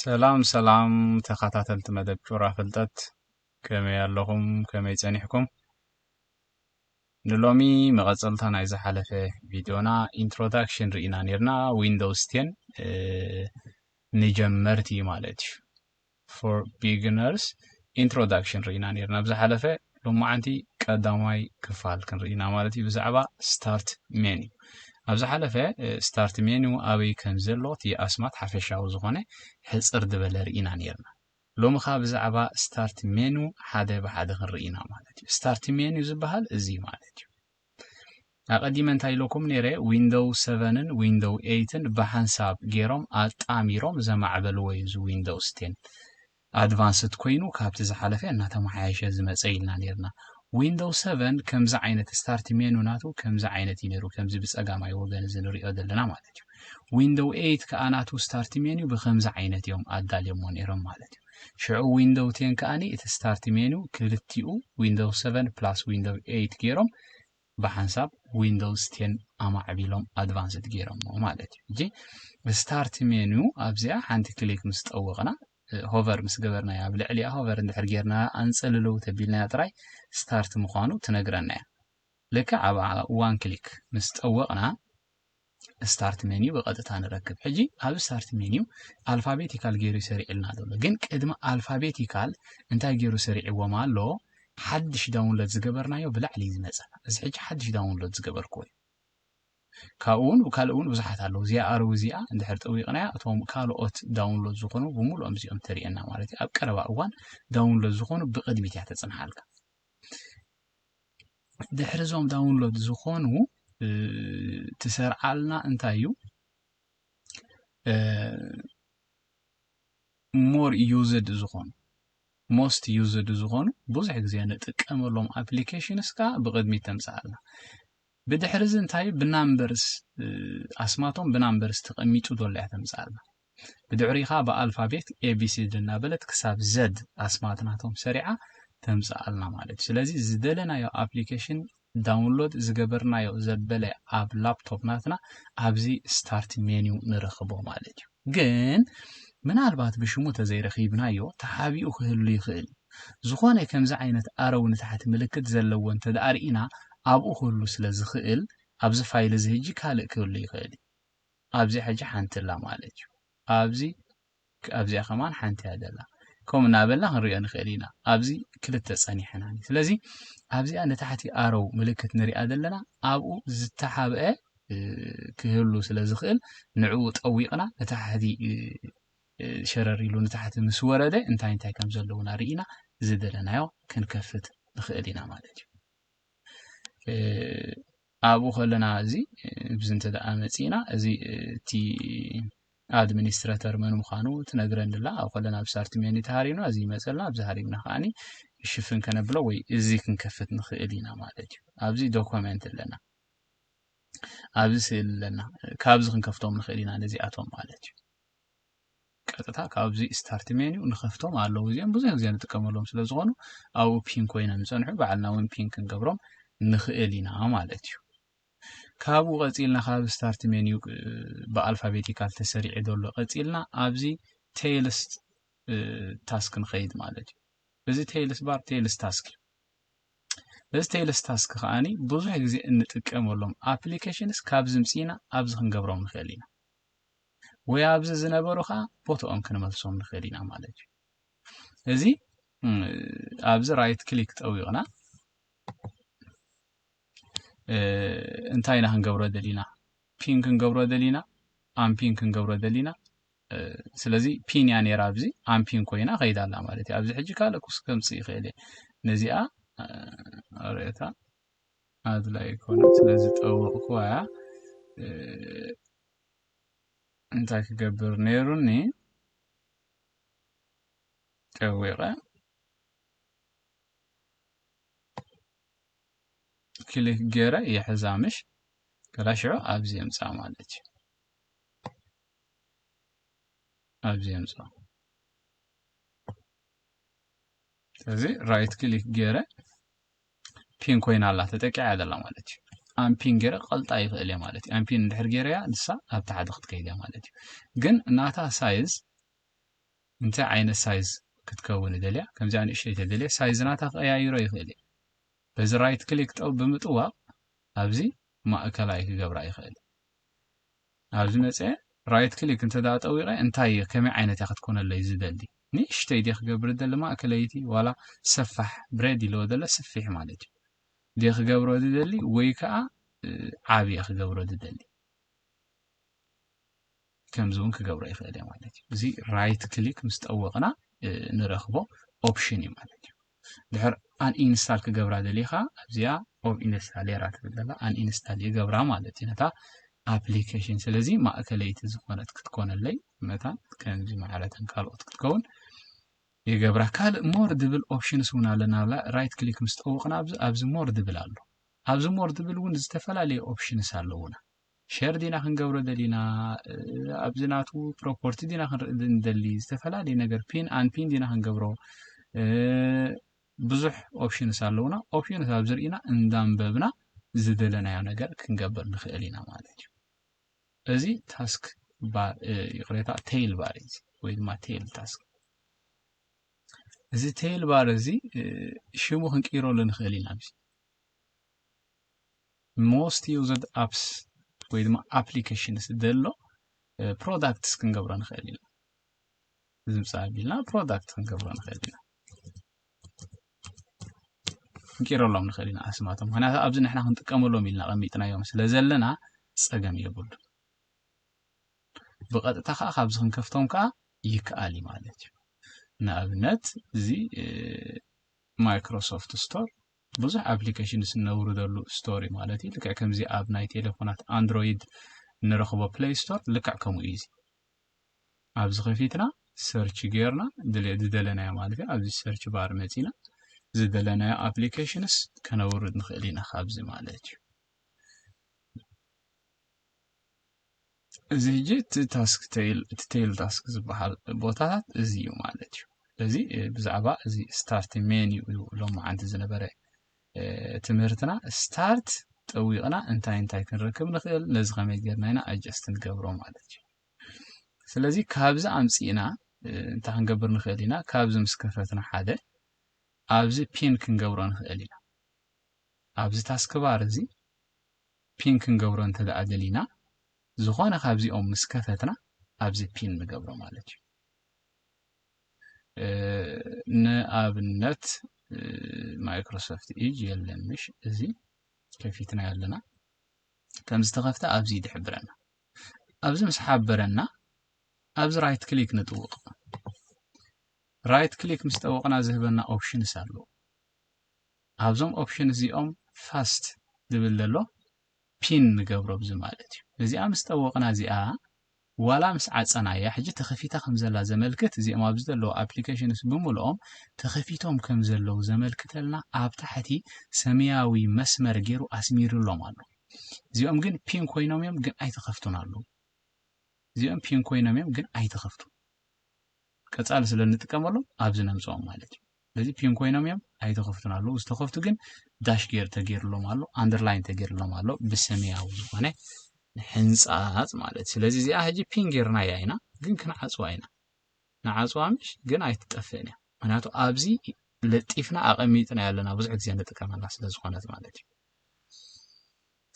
ሰላም ሰላም ተኸታተልቲ መደብ ጩራ ፍልጠት ከመይ ኣለኹም ከመይ ጸኒሕኩም ንሎሚ መቐጸልታ ናይ ዝሓለፈ ቪድዮና ኢንትሮዳክሽን ርኢና ነርና ዊንዶውስ ቴን ንጀመርቲ ማለት እዩ ፎር ቢግነርስ ኢንትሮዳክሽን ርኢና ኔርና ኣብ ዝሓለፈ ሎማዓንቲ ቀዳማይ ክፋል ክንርኢ ኢና ማለት እዩ ብዛዕባ ስታርት ሜኑ ኣብ ዝሓለፈ ስታርት ሜኑ ኣበይ ከም ዘሎ እቲ ኣስማት ሓፈሻዊ ዝኾነ ሕፅር ዝበለ ርኢና ኔርና ሎሚ ከዓ ብዛዕባ ስታርት ሜኑ ሓደ ብሓደ ክንርኢ ኢና ማለት እዩ ስታርት ሜኑ ዝበሃል እዚ ማለት እዩ ኣቀዲመ እንታይ ኢለኩም ነይረ ዊንዶው ሰቨንን ዊንዶው ኤይትን ብሓንሳብ ገይሮም ኣጣሚሮም ዘማዕበልዎ እዩ እዚ ዊንዶውስ ቴን ኣድቫንስድ ኮይኑ ካብቲ ዝሓለፈ እናተመሓየሸ ዝመፀ ኢልና ነይርና ዊንዶው ሰቨን ከምዚ ዓይነት ስታርት ሜኑ ናቱ ከምዚ ዓይነት እዩ ነይሩ ከምዚ ብፀጋማይ ወገን እዚ ንሪኦ ዘለና ማለት እዩ ዊንዶው ኤይት ከዓ ናቱ ስታርት ሜኑ ብከምዚ ዓይነት እዮም ኣዳልዮሞ ነይሮም ማለት እዩ ሽዑ ዊንዶው ቴን ከኣ እቲ ስታርት ሜኑ ክልቲኡ ዊንዶው ሰቨን ፕላስ ዊንዶው ኤይት ጌሮም ብሓንሳብ ዊንዶውስ ቴን ኣማዕቢሎም ኣድቫንስድ ጌሮሞ ማለት እዩ እጂ ስታርት ሜኑ ኣብዚኣ ሓንቲ ክሊክ ምስ ጠወቕና ሆቨር ምስ ገበርናያ ኣብ ልዕሊኣ ሆቨር እንድሕር ጌርና ኣንጸልለው ተቢልናያ ጥራይ ስታርት ምዃኑ ትነግረና እያ ልክዕ ኣብኣ ዋን ክሊክ ምስ ጠወቕና ስታርት ሜኒው ብቐጥታ ንረክብ ሕጂ ኣብ ስታርት ሜኒው ኣልፋቤቲካል ገይሩ ይሰሪዕልና ዘሎ ግን ቅድሚ ኣልፋቤቲካል እንታይ ገይሩ ሰሪዕዎም ኣሎ ሓድሽ ዳውንሎድ ዝገበርናዮ ብላዕሊ እዩ ዝመፀ እዚ ሕጂ ሓድሽ ዳውንሎድ ዝገበርክዎ እዩ ካብኡ እውን ካልእ እውን ብዙሓት ኣለዉ እዚኣ ኣርዊ እዚኣ እንድሕር ጠዊቕናያ እቶም ካልኦት ዳውንሎድ ዝኾኑ ብምሉኦም እዚኦም ተርእየና ማለት እዩ ኣብ ቀረባ እዋን ዳውንሎድ ዝኾኑ ብቅድሚት እያ ተፅንሓልካ ድሕሪ ዞም ዳውንሎድ ዝኾኑ ትሰርዓልና እንታይ እዩ ሞር ዩዝድ ዝኾኑ ሞስት ዩዝድ ዝኾኑ ብዙሕ ግዜ ንጥቀመሎም ኣፕሊኬሽንስ ከዓ ብቅድሚት ተምፅኣልና ብድሕሪ እዚ እንታይ ብናምበርስ ኣስማቶም ብናምበርስ ተቐሚጡ ዘሎ እያ ተምፅኣልና ብድሕሪኡ ከኣ ብኣልፋቤት ኤቢሲዲ እናበለት ክሳብ ዘድ ኣስማት ናቶም ሰሪዓ ተምጽኣልና ማለት እዩ። ስለዚ ዝደለናዮ ኣፕሊኬሽን ዳውንሎድ ዝገበርናዮ ዘበለ ኣብ ላፕቶፕ ናትና ኣብዚ ስታርት ሜንዩ ንረኽቦ ማለት እዩ። ግን ምናልባት ብሽሙ ተዘይረኺብናዮ ተሓቢኡ ክህሉ ይኽእል እዩ። ዝኾነ ከምዚ ዓይነት ኣረው ንታሕቲ ምልክት ዘለዎ እንተደኣ ርኢና ኣብኡ ክህሉ ስለዝኽእል ኣብዚ ፋይል እዚ ህጂ ካልእ ክህሉ ይኽእል እዩ። ኣብዚ ሕጂ ሓንቲ ኣላ ማለት እዩ ኣብዚ ኣብዚኣ ከማን ሓንቲ እያ ዘላ ከምኡ እናበልና ክንሪኦ ንኽእል ኢና ኣብዚ ክልተ ጸኒሐናኒ ስለዚ ኣብዚኣ ንታሕቲ ኣረው ምልክት ንሪኣ ዘለና ኣብኡ ዝተሓብአ ክህሉ ስለ ዝኽእል ንዕኡ ጠዊቕና ንታሕቲ ሸረር ኢሉ ንታሕቲ ምስ ወረደ እንታይ እንታይ ከም ዘለውና ርኢና ዝደለናዮ ክንከፍት ንኽእል ኢና ማለት እዩ ኣብኡ ከለና እዚ ብዚ እንተ መጺእና እዚ እቲ ኣድሚኒስትረተር መን ምዃኑ ትነግረኒ ኣላ ኣብ ከለና ብሳርቲ ሜኒ ተሃሪምና እዚ ይመጸልና ኣብዚ ሃሪምና ከዓኒ ሽፍን ከነብሎ ወይ እዚ ክንከፍት ንኽእል ኢና ማለት እዩ ኣብዚ ዶኮመንት ኣለና ኣብዚ ስእሊ ኣለና ካብዚ ክንከፍቶም ንኽእል ኢና ነዚኣቶም ማለት እዩ ቀጥታ ካብዚ ስታርት ሜኑ ንኸፍቶም ኣለዉ እዚኦም ብዙሕ ግዜ ንጥቀመሎም ስለ ዝኾኑ ኣብኡ ፒን ኮይኖም ዝፀንሑ ባዕልና እውን ፒን ክንገብሮም ንኽእል ኢና ማለት እዩ ካብኡ ቀፂልና ካብ ስታርት ሜኑ ብኣልፋቤቲካል ተሰሪዑ ዘሎ ቀፂልና ኣብዚ ቴይልስ ታስክ ንኸይድ ማለት እዩ እዚ ቴይልስ ባር ቴይልስ ታስክ እዩ እዚ ቴይልስ ታስክ ከዓኒ ብዙሕ ግዜ እንጥቀመሎም ኣፕሊኬሽንስ ካብዚ ምፅኢና ኣብዚ ክንገብሮም ንኽእል ኢና ወይ ኣብዚ ዝነበሩ ከዓ ቦትኦም ክንመልሶም ንኽእል ኢና ማለት እዩ እዚ ኣብዚ ራይት ክሊክ ጠዊቕና እንታይ ኢና ክንገብሮ ደሊና ፒን ክንገብሮ ደሊና ኣምፒን ክንገብሮ ደሊና ስለዚ ፒን እያ ነይራ ኣብዚ ኣምፒን ኮይና ከይዳ ኣላ ማለት እዩ ኣብዚ ሕጂ ካልእ ኩስ ከምፅእ ይኽእል እየ ነዚኣ ርእታ ኣድላይ ኣይኮነን ስለዚ ጠወቕክዋያ እንታይ ክገብር ነይሩኒ ጠዊቐ ክሊክ ገይረ ይሕዛ ምሽ ከላ ሽዑ ኣብዚ የምፃ ማለት እዩ ኣብዚ የምፃ ስለዚ ራይት ክሊክ ገይረ ፒን ኮይና ኣላ ተጠቂዓ እያ ዘላ ማለት እዩ ኣምፒን ገይረ ቀልጣ ይኽእል እየ ማለት እዩ ኣምፒን እንድሕር ገይረያ ንሳ ኣብ ታሕቲ ክትከይድ እያ ማለት እዩ ግን ናታ ሳይዝ እንታይ ዓይነት ሳይዝ ክትከውን ይደልያ ከምዚኣ ንእሽተይ ተደልየ ሳይዝ ናታ ክቀያይሮ ይኽእል እዩ በዚ ራይት ክሊክ ጠው ብምጥዋቕ ኣብዚ ማእከላይ ክገብራ ይኽእል ናብዚ መጸ ራይት ክሊክ እንተ ጠዊቐ እንታይ እየ ከመይ ዓይነት እያ ክትኮነለይ ዝደሊ ንእሽተይ ድየ ክገብር ዝደሊ ማእከለይቲ ዋላ ሰፋሕ ብሬድ ኢልዎ ዘሎ ስፊሕ ማለት እዩ ድየ ክገብሮ ዝደሊ ወይ ከዓ ዓብ እየ ክገብሮ ዝደሊ ከምዚ እውን ክገብሮ ይኽእል እየ ማለት እዩ እዚ ራይት ክሊክ ምስ ጠወቕና ንረኽቦ ኦፕሽን እዩ ማለት እዩ ድሕር ኣንኢንስታል ክገብራ ደሊካ ኣብዚኣ ኦብ ኢንስታሌራ ትብል ዘላ ኣንኢንስታል ይገብራ ማለት እዩ ነታ ኣፕሊኬሽን ስለዚ ማእከለይቲ ዝኾነት ክትኮነለይ መታን ከምዚ ማዕረተን ካልኦት ክትከውን ይገብራ ካልእ ሞር ድብል ኦፕሽንስ እውን ኣለና ብላ ራይት ክሊክ ምስ ጠወቕና ኣብዚ ሞር ድብል ኣሎ ኣብዚ ሞር ድብል እውን ዝተፈላለዩ ኦፕሽንስ ኣለውና ሸር ዲና ክንገብሮ ደሊና ኣብዚ ናቱ ፕሮፖርቲ ዲና ክንርኢ ንደሊ ዝተፈላለየ ነገር ፒን ኣንፒን ዲና ክንገብሮ ብዙሕ ኦፕሽንስ ኣለውና ኦፕሽንስ ኣብ ዝርኢና እንዳንበብና ዝደለናዮ ነገር ክንገብር ንኽእል ኢና ማለት እዩ እዚ ታስክ ባር ይቕሬታ ቴይል ባር እዩ ወይ ድማ ቴይል ታስክ እዚ ቴይል ባር እዚ ሽሙ ክንቅይረሉ ንኽእል ኢና ሞስት ዩዝድ ኣፕስ ወይ ድማ ኣፕሊኬሽንስ ዘሎ ፕሮዳክትስ ክንገብሮ ንኽእል ኢና እዚ ምስ ኣቢልና ፕሮዳክት ክንገብሮ ንኽእል ኢና ክንቂረሎም ንኽእል ኢና ኣስማቶም ምክንያቱ ኣብዚ ንሕና ክንጥቀመሎም ኢልና ቀሚጥናዮም ስለ ዘለና ፀገም የብሉ ብቐጥታ ከዓ ካብዚ ክንከፍቶም ከዓ ይከኣል እዩ ማለት እዩ ንኣብነት እዚ ማይክሮሶፍት ስቶር ብዙሕ ኣፕሊኬሽንስ እነውርደሉ ስቶር ማለት እዩ። ልክዕ ከምዚ ኣብ ናይ ቴሌፎናት ኣንድሮይድ እንረኽቦ ፕለይ ስቶር ልክዕ ከምኡ እዩ። እዚ ኣብዚ ከፊትና ሰርች ጌርና ዝደለናዮ ማለት እዩ ኣብዚ ሰርች ባር መጺና ዝደለናዮ ኣፕሊኬሽንስ ከነውርድ ንኽእል ኢና ካብዚ ማለት እዩ። እዚ ሕጂ እቲ ታስክ ቴይል እቲ ቴይል ታስክ ዝበሃል ቦታታት እዚ እዩ ማለት እዩ ስለዚ ብዛዕባ እዚ ስታርት ሜን እዩ ሎመዓንቲ ዝነበረ ትምህርትና ስታርት ጠዊቕና እንታይ እንታይ ክንረክብ ንኽእል ነዚ ከመይ ጌርና ኢና ኣጀስት ንገብሮ ማለት እዩ ስለዚ ካብዚ ኣምፂእና እንታይ ክንገብር ንኽእል ኢና ካብዚ ምስ ከፈትና ሓደ ኣብዚ ፒን ክንገብሮ ንኽእል ኢና ኣብዚ ታስክባር እዚ ፒን ክንገብሮ እንተደኣ ደሊና ዝኾነ ካብዚኦም ምስ ከፈትና ኣብዚ ፒን ንገብሮ ማለት እዩ ንኣብነት ማይክሮሶፍት ኢጅ የለን ምሽ እዚ ከፊትና ኣለና ከም ዝተኸፍተ ኣብዚ ይድሕብረና ኣብዚ ምስ ሓበረና ኣብዚ ራይት ክሊክ ንጥውቕ ራይት ክሊክ ምስ ጠወቕና ዝህበና ኦፕሽንስ ኣለዎ ኣብዞም ኦፕሽን እዚኦም ፋስት ዝብል ዘሎ ፒን ንገብሮ ብዚ ማለት እዩ ነዚኣ ምስ ጠወቕና እዚኣ ዋላ ምስ ዓፀናያ ሕጂ ተኸፊታ ከም ዘላ ዘመልክት እዚኦም ኣብዚ ዘለዉ ኣፕሊኬሽንስ ብምልኦም ተኸፊቶም ከም ዘለዉ ዘመልክተልና ኣብ ታሕቲ ሰማያዊ መስመር ገይሩ ኣስሚሩሎም ኣሎ እዚኦም ግን ፒን ኮይኖም እዮም ግን ኣይተኸፍቱን ኣለዉ እዚኦም ፒን ኮይኖም እዮም ግን ኣይተኸፍቱን ቀፃሊ ስለ እንጥቀመሎም ኣብዚ ነምፅኦም ማለት እዩ ስለዚ ፒን ኮይኖም እዮም ኣይተኸፍቱን ኣለዉ ዝተኸፍቱ ግን ዳሽ ጌር ተገይርሎም ኣሎ ኣንደርላይን ተገይርሎም ኣሎ ብሰማያዊ ዝኾነ ሕንፃፅ ማለት ስለዚ እዚኣ ሕጂ ፒን ጌርና እያ ኢና ግን ክንዓፅዋ ኢና ንዓፅዋ ምሽ ግን ኣይትጠፍእን እያ ምክንያቱ ኣብዚ ለጢፍና ኣቐሚጥና ኣለና ብዙሕ ግዜ ንጥቀመላ ስለ ዝኾነት ማለት እዩ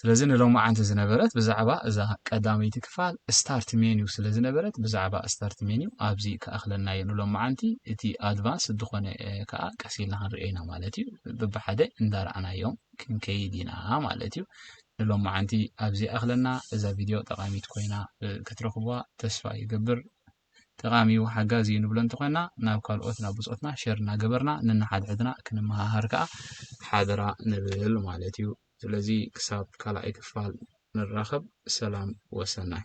ስለዚ ንሎማዓንቲ ዝነበረት ብዛዕባ እዛ ቀዳመይቲ ክፋል ስታርት ሜንዩ ስለ ዝነበረት ብዛዕባ ስታርት ሜንዩ ኣብዚ ክኣኽለናዮ ንሎማዓንቲ እቲ ኣድቫንስ ዝኾነ ከኣ ቀስ ኢልና ክንሪኦ ኢና ማለት እዩ ብብሓደ እንዳረኣናዮም ክንከይድ ኢና ማለት እዩ ንሎማዓንቲ ኣብዚ ይኣኽለና እዛ ቪድዮ ጠቃሚት ኮይና ክትረኽቡዋ ተስፋ ይገብር ጠቃሚ እዩ ሓጋዚ እዩ ንብሎ እንተኾይና ናብ ካልኦት ናብ ብጾትና ሸር እናገበርና ንንሓድሕድና ክንመሃሃር ከኣ ሓደራ ንብል ማለት እዩ ስለዚ ክሳብ ካልኣይ ክፋል ንራኸብ ሰላም ወሰናይ።